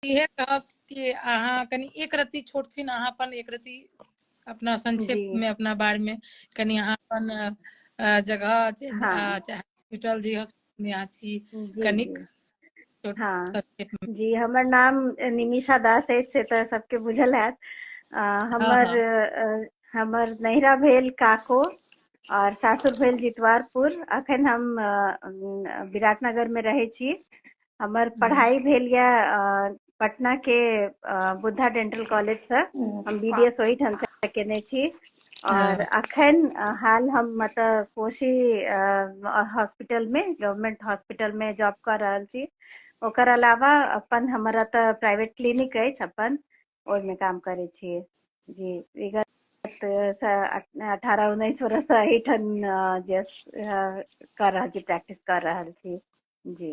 इहे कहब कि अहाँ कनि एक रत्ती छोट छिन अहाँ अपन एक रत्ती अपना संक्षेप जी में अपना बारे में कनि अहाँ अपन अ, अ, जगह जे- हाँ अ, चाहे हॉस्पिटल जी हॉस्पिटल में अहाँ छी जी कनिक जी हँ जी हमर नाम निमिषा दास अछि से तऽ सबके बुझल हैत हमर हमर नैहरा भेल काको और सासुर भेल जितवारपुर अखन हम विराटनगर में रहे छी हमर पढ़ाई भेल यऽ पटना के बुद्धा डेंटल कॉलेज से हम्म, हम बी डी एस वही ठाम से केने छी और हाँ। अखन हाल हम मतलब कोशी हॉस्पिटल में गवर्नमेंट हॉस्पिटल में जॉब कर रहा छी ओकर अलावा अपन हमारा तो प्राइवेट क्लिनिक है अपन में काम करे छी जी विगत अठारह उन्नीस वर्ष से एहिठाम जे कर रहा छी प्रैक्टिस कर रहा छी जी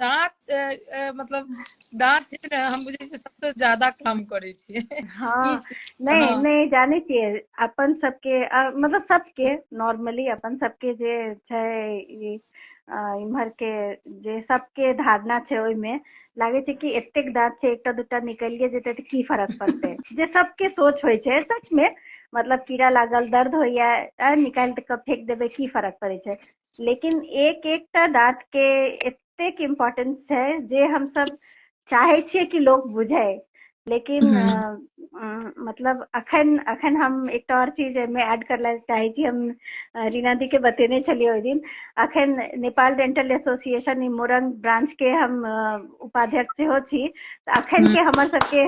दाँत मतलब दाँत छै ने हम बुझै छियै सबसँ ज्यादा काम करै छियै हाँ नहि हाँ। नहि जानै छियै अपन सबके मतलब सबके नॉर्मली अपन सबके जे छै ई इम्हरके जे सबके धारणा छै ओहिमे लागै छै कि एतेक दाँत छै एकटा दूटा निकलिए जेतै तऽ की फरक पड़तै जे सबके सोच होइ छै सचमे मतलब कीड़ा लागल दर्द होइया निकालि कऽ फेक देबै की फरक पड़ै छै लेकिन एक एकटा दाँत के एतेक इम्पोर्टेंस छै जे हम सब चाहे छियै कि लोग बुझे लेकिन हम्म। मतलब अखन अखन हम एकटा और चीज एहिमे ऐड कर ला चाहे छी हम रीना दी के बतेने छलियै ओहि दिन अखन नेपाल डेंटल एसोसिएशन ई मोरंग ब्रांच के हम उपाध्यक्ष सेहो छी अखन के हम्म। हमर सबके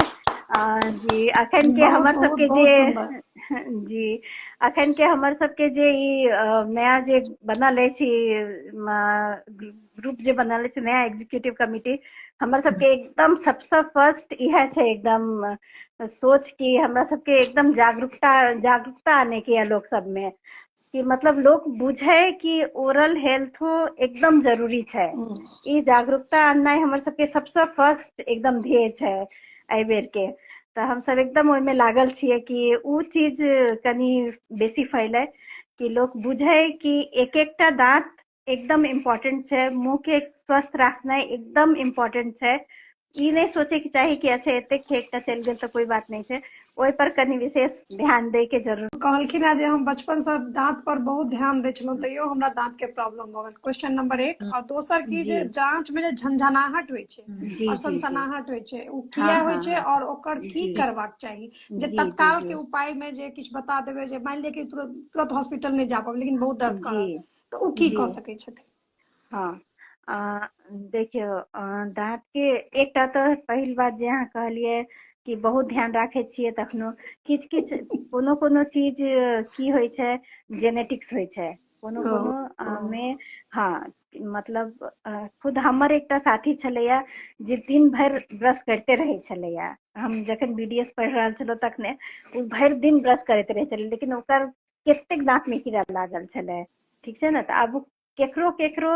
जी अखन के हमर सबके जे जी अखन के हमर सबके जे ई नया जे बनल अछि ग्रुप जे बनल अछि नया एग्जीक्यूटिव कमिटी हमर सबके एकदम सबसे फर्स्ट इहे छै एकदम सोच कि हमरा सबके एकदम जागरूकता जागरूकता आने के लोक सब में कि मतलब लोग बुझे कि ओरल हेल्थ एकदम जरूरी छै ई जागरूकता आननाइ हमर सबके सबसँ फर्स्ट एकदम ध्येय छै एहि बेरके तऽ हमसब एकदम ओहिमे लागल छियै कि ओ चीज कनि बेसी फैलै कि लोक बुझै कि एक एकटा दाँत एकदम इम्पोर्टेंट छै मुंह के स्वस्थ रखना एकदम इम्पोर्टेंट छै ई नहि सोचे के चाही कि अच्छा एते खेक का चल गए तो कोई बात नहीं छै ओहि पर कनी विशेष ध्यान दे के जरूर कहलखिन है जे हम बचपन से दांत पर बहुत ध्यान दे छलहुँ तैयो हमरा दांत के प्रॉब्लम भऽ गेल क्वेश्चन नंबर एक और दोसर की जे जांच में जे झंझनाहट होइ छै और सनसनाहट होइ छै ओ किया हाँ, होइ हाँ, छै हाँ। और ओकर की करबाक चाही जे तत्काल के उपाय में जे किछु बता देबे जे मान लिअ कि तुरंत हॉस्पिटल नहीं जा पाबे लेकिन बहुत दर्द कर तऽ ओ की कऽ सकै छथिन हँ देखियौ दाँतके एकटा तऽ पहिल बात जे अहाँ कहलियै कि बहुत ध्यान राखै छियै तखनो किछु किछु कोनो कोनो चीज की होइ छै जेनेटिक्स होइ छै कोनो कोनो मे हँ मतलब खुद हमर एकटा साथी छलैया जे दिन भरि ब्रश करिते रहै छलैया हम जखन बी डी एस पढ़ि रहल छलहुँ तखने ओ भरि दिन ब्रश करैत रहै छलै लेकिन ओकर कतेक दाँत में कीड़ा लागल छलै ठीक छै ने तऽ आब केकरो केकरो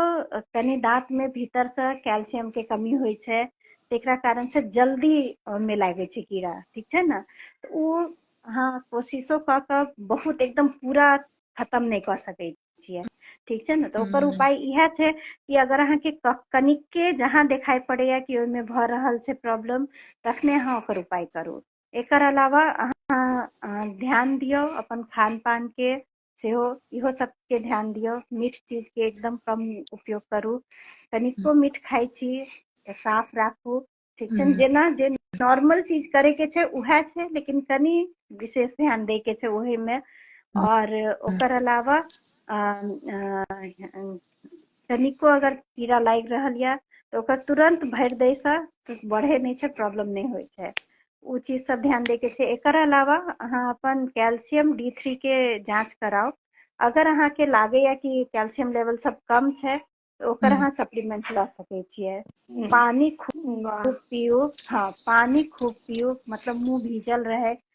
कनि दाँत में भीतर से कैल्शियम के कमी होइ छै तेकरा कारण से जल्दी में लागे छै कीड़ा ठीक छै ने तऽ ओ अहाँ कोशिशो कऽ कऽ बहुत एकदम पूरा खतम नहि कऽ सकैत छियै ठीक छै ने तऽ ओकर उपाय इएह छै कि अगर अहाँके कनिके जहाँ देखाइ पड़ैया कि ओहिमे भऽ रहल छै प्रॉब्लम तखने अहाँ ओकर उपाय करू एकर अलावा अहाँ ध्यान दियौ अपन खान पान के सेहो इहो सबके ध्यान दियौ मीठ चीज के एकदम कम उपयोग करू कनिको मीठ खाइ छी तऽ साफ राखू ठीक छै हम्म। जेना जे नॉर्मल चीज करे के छै उहे छै लेकिन कनी विशेष ध्यान दे के छै ओहे में हम्म। और ओकर अलावा कनिको अगर कीड़ा लागि रहल यऽ तऽ ओकर तुरंत भरि दैसँ बढ़े नहि छै प्रॉब्लम नहि होइ छै ओ चीज सब ध्यान दैके छै एकर अलावा अहाँ अपन कैल्शियम डी थ्री के जांच कराउ अगर अहाँके लागैया कि कैल्शियम लेवल सब कम छै तऽ ओकर हम्म। अहाँ सप्लीमेंट लऽ सकै छियै हम्म। पानी खूब खूब पियो हाँ पानी खूब पियो मतलब मुंह भीजल रहे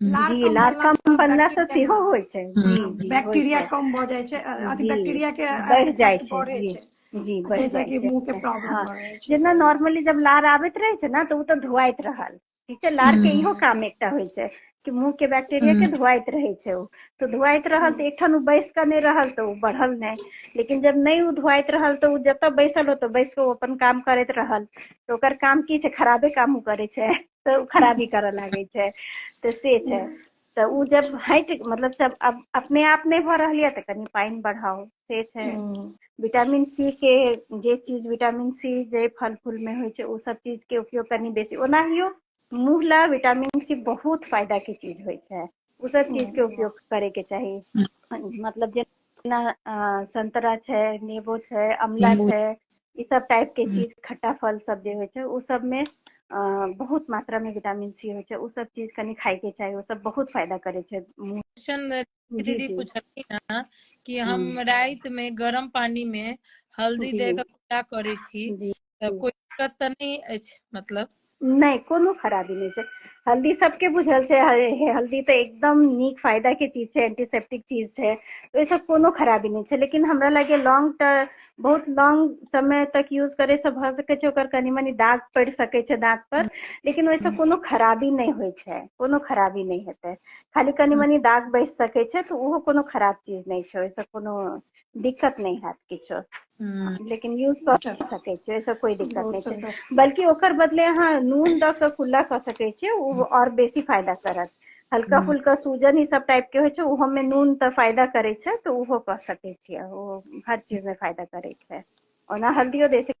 जी लार कम बनला से सेहो होइ छै जी जी बैक्टीरिया कम भ जाइ छै अथी बैक्टीरिया के बढ़ जाइ छै जी जी बढ़ जाइ छै मुंह के प्रॉब्लम हाँ, जेना नॉर्मली जब लार आबैत रहे छै ना तो उ त धुआइत रहल ठीक छै लार के इहो काम एकटा होइ छै कि मुंह के बैक्टीरिया के धुआइत रहे छै उ तो धुआइत रहल तो एकठाम बैस के नहीं रहल तो उ बढ़ल नहीं लेकिन जब नहीं उ धुआइत रहल तो उ जत बैसल हो तो बैस के अपन काम करैत रहल तो ओकर काम की छै खराबे काम उ करे छै तऽ खराबी करऽ लागै छै तऽ से छै तऽ ओ जब हटि मतलब जब अब अपने आप नहि भऽ रहल यऽ तऽ कनि पानि बढ़ाउ से छै हम्म, विटामिन सी के जे चीज विटामिन सी जे फल फूल में होइ छै ओ सब चीज के उपयोग कनि बेसी ओनाहियो मुँह ला विटामिन सी बहुत फायदा के चीज होइ छै ओ सब चीज के उपयोग करे के चाही मतलब जेना अ, संतरा छै नेबो छै अमला नींबू। छै ई सब टाइप के हम्म। चीज खट्टा फल सब जे होइ छै ओ सब में अ, बहुत मात्रा में विटामिन सी होइ छै ओ सब चीज कनी खाय के चाही ओ सब बहुत फायदा करे छै मुंह क्वेश्चन जी दीदी जी पूछलखिन हँ कि हम हम्म, राति में गर्म पानी में हल्दी जी दे के कुल्ला करे छी जी तऽ कोई दिक्कत तऽ नहि अछि मतलब नहि कोनो खराबी नहि छै हल्दी सबके बुझल छै हल्दी तऽ एकदम नीक फायदा के चीज छै एंटीसेप्टिक चीज छै ओहिसँ कोनो खराबी नहि छै लेकिन हमरा लगे लॉन्ग टर्म बहुत लॉन्ग समय तक यूज करे से भऽ सकै छै ओकर कनी मनी दाग पड़ि सकै छै दाँत पर लेकिन ओहिसँ कोनो खराबी नहि होइ छै कोनो खराबी नहि हेतै खाली कनी मनी दाग बैस सकै छै तऽ ओहो कोनो खराब चीज नहि छै ओहिसँ कोनो दिक्कत नहि हैत किछो हम्म। लेकिन यूज कऽ सकै छै ओहिसँ कोई दिक्कत नहि छै बल्कि ओकर बदले अहाँ नून दऽ कऽ कुल्ला कऽ सकै छियै ओ हम्म। आओर बेसी फायदा करत हल्का हम्म। फुल्का सूजन ई सब टाइप के होइ छै ओहोमे नून तऽ फायदा करै छै तऽ ओहो कऽ सकै छियै ओ हर चीजमे फायदा करै छै ओना हल्दियो दे सकै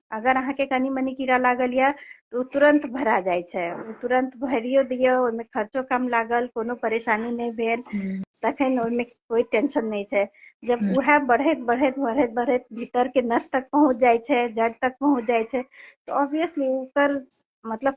अगर अहाँके कनि मनी कीड़ा लागल यऽ तऽ ओ तुरन्त भरा जाइ छै ओ तुरन्त भरियो दियौ ओहिमे खर्चो कम लागल कोनो परेशानी नहि भेल तखन ओहिमे कोइ टेंशन नहि छै जब उएह बढ़ैत बढ़ैत बढ़ैत बढ़ैत भीतर के नस तक पहुंच जाइ छै जड़ तक पहुंच जाइ छै तऽ ऑब्वियसली ओकर मतलब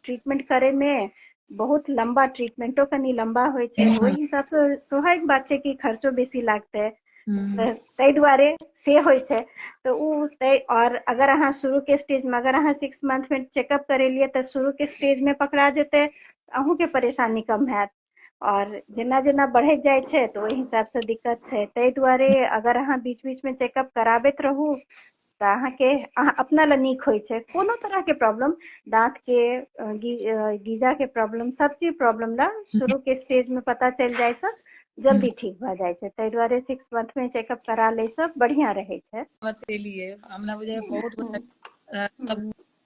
ट्रीटमेंट करे में बहुत लंबा ट्रीटमेंटो कनी लंबा होय छै हम्म। ओहि हिसाब से स्वाभाविक बात छै कि खर्चो बेसी लागते हम्म। ताहि दुआरे से होइ छै तऽ ओ ताहि और अगर अहाँ शुरू के स्टेज में अगर अहाँ सिक्स मंथ में चेकअप करेलिए तऽ शुरू के स्टेज में पकड़ा जेतै अहूँ के परेशानी कम हैत आओर जेना जेना बढ़ैत जाइ छै तऽ ओहि हिसाबसँ दिक्कत छै ताहि दुआरे अगर अहाँ बीच बीचमे चेकअप कराबैत रहू तऽ अहाँके अहाँ अपना लए नीक होइ छै कोनो तरहके प्रॉब्लम दाँतके गीजाके प्रॉब्लम सब चीज प्रॉब्लम लए शुरूके स्टेजमे पता चलि जाइसँ जल्दी ठीक भऽ जाइ छै ताहि दुआरे सिक्स मंथमे चेकअप करा लैसँ बढ़िआँ रहै छै हमरा बुझाइए बहुत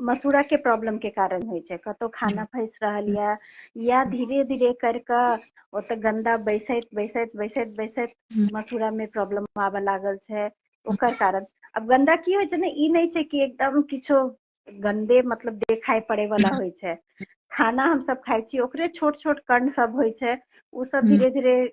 मसूरा के प्रॉब्लम के कारण होइ छै कतौ खाना फैस रहल या या धीरे धीरे कर के ओतऽ गंदा बैसैत बैसैत बैसैत बैसैत मसूरा में प्रॉब्लम आबऽ लागल छै ओकर कारण अब गंदा की होइ छै ने ई नहि छै कि एकदम किछो गंदे मतलब देखाई पड़े वाला होइ छै खाना हम सब खाइ छी ओकरे छोट छोट कण सब होइ छै ओ सब धीरे धीरे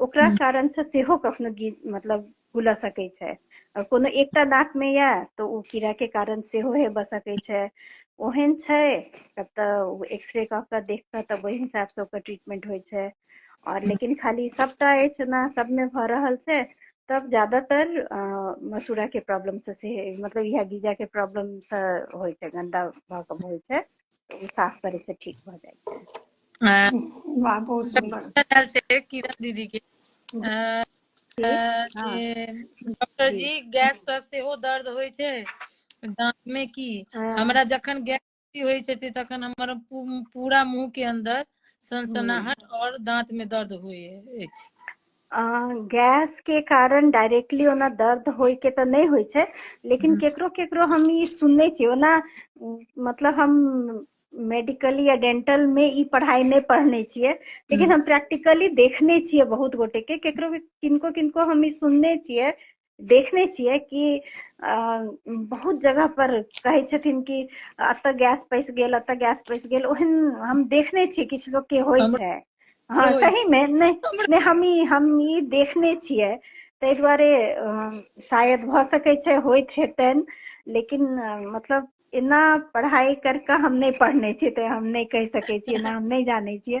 ओकरा कारण से सेहो कखनो गीत मतलब गुलऽ सकै छै और कोनो एकटा दाँत में या तऽ ओ कीड़ा के कारण सेहो हेबऽ सकै छै ओहन छै तब तऽ एक्सरे कऽ कऽ देख कऽ तब ओहि हिसाब से ओकर ट्रीटमेंट होइ छै और लेकिन खाली सबटा अछि ना सबमे भऽ रहल छै तब ज्यादातर मसूड़ा के प्रॉब्लम से से मतलब इएह गीजा के प्रॉब्लम से होइ छै गंदा भऽ कऽ होइ छै ओ साफ करे से ठीक भ जाय छै अ, वाह बहुत सुंदर आयल छै किरण दीदी के अ, जी अ, हाँ जे डॉक्टर जी जी गैस से सेहो दर्द होइ छै दांत में की हाँ हमरा जखन गैस बेसी होइ छै तखन हमर पू- पूरा मुंह के अंदर हम्म सनसनाहट और दांत में दर्द होइ अछि गैस के कारण डायरेक्टली ओना दर्द होय के तऽ नहि होइ छै लेकिन हम्म। केकरो केकरो हम ई सुनने छी ओना मतलब हम मेडिकली या डेंटल में ई पढ़ाई नहि पढ़ने छियै लेकिन हम्म। हम प्रैक्टिकली देखने छियै बहुत गोटे के केकरो किनको किनको हम ई सुनने छियै देखने छियै कि बहुत जगह पर कहै छथिन कि एतऽ गैस पैस गेल एतऽ गैस पैस गेल ओहन हम देखने छियै किछु लोग के होइ छै हाँ सही में नहीं हम ई हम ई देखने छियै ताहि दुआरे शायद भऽ सकै छै होइत हेतनि लेकिन मतलब एना पढ़ाई करके हम नहीं पढ़ने छियै तऽ हम नहीं कहि सकै छियै एना हम नहीं जानै छियै